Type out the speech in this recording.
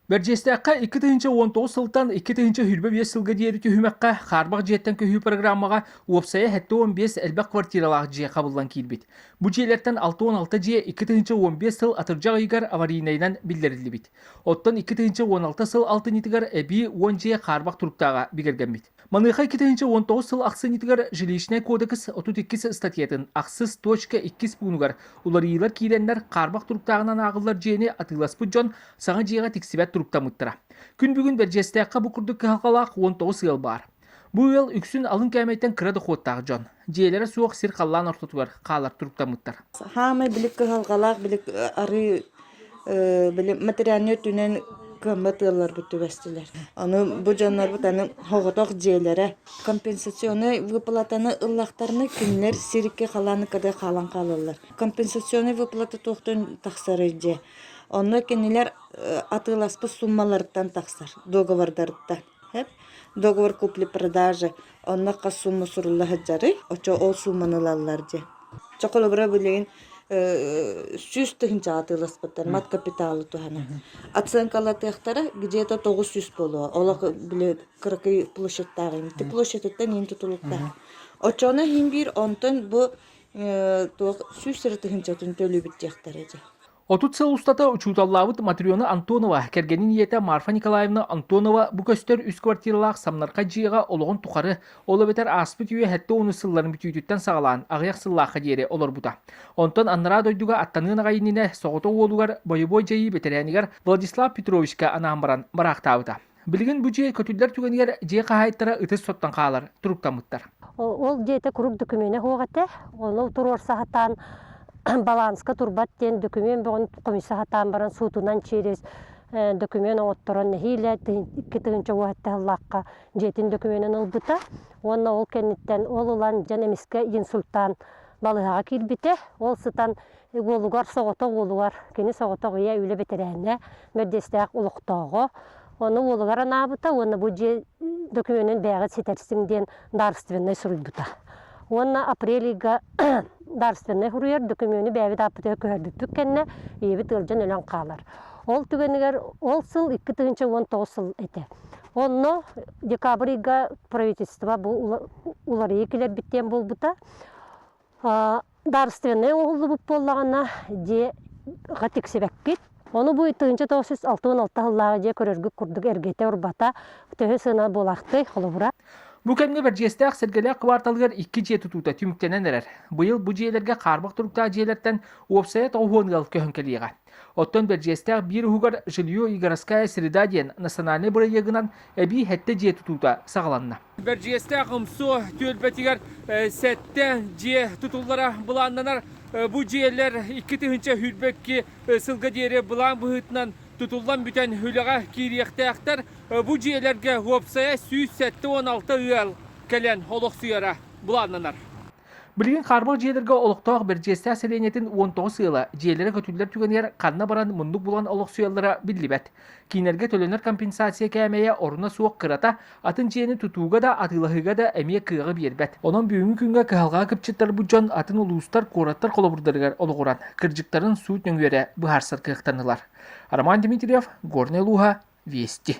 Бэрдьиэстээххэ икки тыһыынча уон тоҕус сылтан икки тыһыынча сүүрбэ биэс сылга диэри түһүмэххэ хаарбах дьиэттэн көһүү программаҕа уопсайа сэттэ уон биэс элбэх квартиралаах дьиэ хабыллан киирбит. Бу дьиэлэртэн алта уон алта дьиэ икки тыһыынча уон биэс сыл атырдьах ыйыгар аварийнайынан биллэриллибит. Оттон икки тыһыынча уон алта сыл алтынньытыгар эбии уон дьиэ хаарбах туруктааҕа бигэргэммит. Маныаха иккитинчи уон тоҕус сыл ахсынньытыгар Жилищнай кодекс отут иккис статьятын ахсыс точка иккис пуунугар уларыйыылар киирэннэр хаарбах туруктааҕынан ааҕыллар дьиэни атыыласпыт дьон саҥа дьиэҕэ тиксибэт туруктаммыттара. Күн бүгүн Бэрдьиэстээххэ бу курдук кыһалҕалаах уон тоҕус ыал баар. Бу ыал үксүн алын кээмэйтэн кыра дохуоттаах дьон. Дьиэлэрэ суох сир халлаан ортотугар хаалар туруктаммыттар. Саамай билик кыһалҕалаах билик арыы били материальнай өттүнэн кыаммат ыалларбыт түбэстилэр. Аны бу дьоннорбут аны хоҕотох дьиэлэрэ компенсационнай выплатаны ыллахтарына кинилэр сирикки халааны кыды хаалан хаалаллар. Компенсационнай выплата туохтан тахсарый дьэ? Онно кинилэр атыыласпыт суммаларыттан тахсар, договордарыттан. Договор купли-продажи онно хас сумма сурулла сылдьарый? Оччо ол сууманы ылаллар дии. Чэ, холобура билигин сүүс тыһыынчаҕа атыыласпыттар мат капиталы туһанан. Оценкалатыахтара где-то тоҕус сүүс буолуо. Олох били кыракый площадтаах ини. Ити площадыттан иһин тутулуктаах. Оччоҕуна иһин биир онтон бу туох сүүс эрэ тыһыынчатын төлүүбүт диэхтэрэ дии. Отут сыл устата учууталлаабыт Матрена Антонова, кэргэнин ийэтэ Марфа Николаевна Антонова бу көстөр үс квартиралаах Самнарха дьиэҕэ олоҕун тухары, ол эбэтэр ааспыт үйэ сэттэ ууну сылларын бүтүүтүттэн саҕалаан аҕыйах сыллаахха диэри олорбута. Онтон анараа дойдуга аттаныан аҕай иннинэ соҕотох уолугар бойобуой дьайыы бэтэрээнигэр Владислав Петровичка анаан баран бараахтаабыта. Билигин бу дьиэ көтүллэр түгэнигэр дьиэ хаһаайыттара ытыс соттон хаалар туруктаммыттар. Ол дьиэтэ курук докумена суох этэ. Ону туруорса сатаан баланска турбат диэн документ бөҕүн комисса сатаан баран суутунан через документ оҥотторон нэһиилэ икки тыһыынча уо этэ ыллаахха дьиэтин документын ылбыта уонна ол кэнниттэн ол ылан дьон эмискэ инсультаан балыһаҕа киирбитэ ол сытан Уолугар соҕотох уолугар, кини соҕотох ийэ үлэ бэтэрээнэ, мэрдэстээх олохтооҕо. Ону уолугар анаабыта уонна бу дьиэ докумүонун бэйэҕит ситэрсиҥ диэн дарственнай суруйбута. Уонна апрель ыйга дарственнай суруйар докумүону бэйэбит ааппытыгар көһөрбүппүт кэннэ ийэбит ыалдьан өлөн хаалар. Ол түгэнигэр ол сыл икки тыһыынча уон тоҕус сыл этэ. Онно декабрь ыйга правительство бу уларыйыы кэлэрбит диэн буолбута. Дарственнай оҥоһуллубут буоллаҕына дьиэ ха тиксибэккит. Ону бу тыһыынча тоҕус сүүс алта уон алта сыллааҕы дьиэ көрөргүт курдук эргитэ-урбата төһө сыана буолаахтый, холобура. Бу кэмҥэ Бэрдьиэстээх Сэргэлээх кыбаарталыгар икки дьиэ тутуута түмүктэнэн эрэр. Быйыл бу дьиэлэргэ хаарбах туруктаах дьиэлэртэн уопсайа тоҕуһуон ыал көһөн кэлиэҕэ. Оттон Бэрдьиэстээх биир уһугар «Жилье и городская среда» диэн национальнай бырайыагынан эбии сэттэ дьиэ тутуута саҕаланна. Бэрдьигэстээх МСО түөлбэтигэр сэттэ дьиэ тутуллара былааннанар. Бу дьиэлэр икки тыһыынча сүүрбэкки сылга диэри былаан быһыытынан тутуллан бүтэн үлэҕэ киириэхтээхтэр. Бу дьиэлэргэ уопсайа сүүс сэттэ уон алта ыал кэлэн олохсуйара былааннанар. Билигин Харбыл дьиэлэргэ олохтоох Бэрдьиэстээх сэлиэнньэтин уон тоҕус ыала дьиэлэрэ көтүллэр түгэнигэр ханна баран муннук булан олохсуйаллара биллибэт. Киинэргэ төлөнөр компенсация кээмэйэ оруна суох кырата, атын дьиэни тутууга да атыылаһыыга да эмиэ кыаҕы биэрбэт. Онон бүгүҥҥү күҥҥэ кыһалҕаҕа кыпчыттарбыт дьон атын улуустар, куораттар холобурдарыгар олоҕуран, кырдьыктарын суут нөҥүөрэ быһаарсар кыахтанылар. Роман Дмитриев, Горнай улууһа, Вести.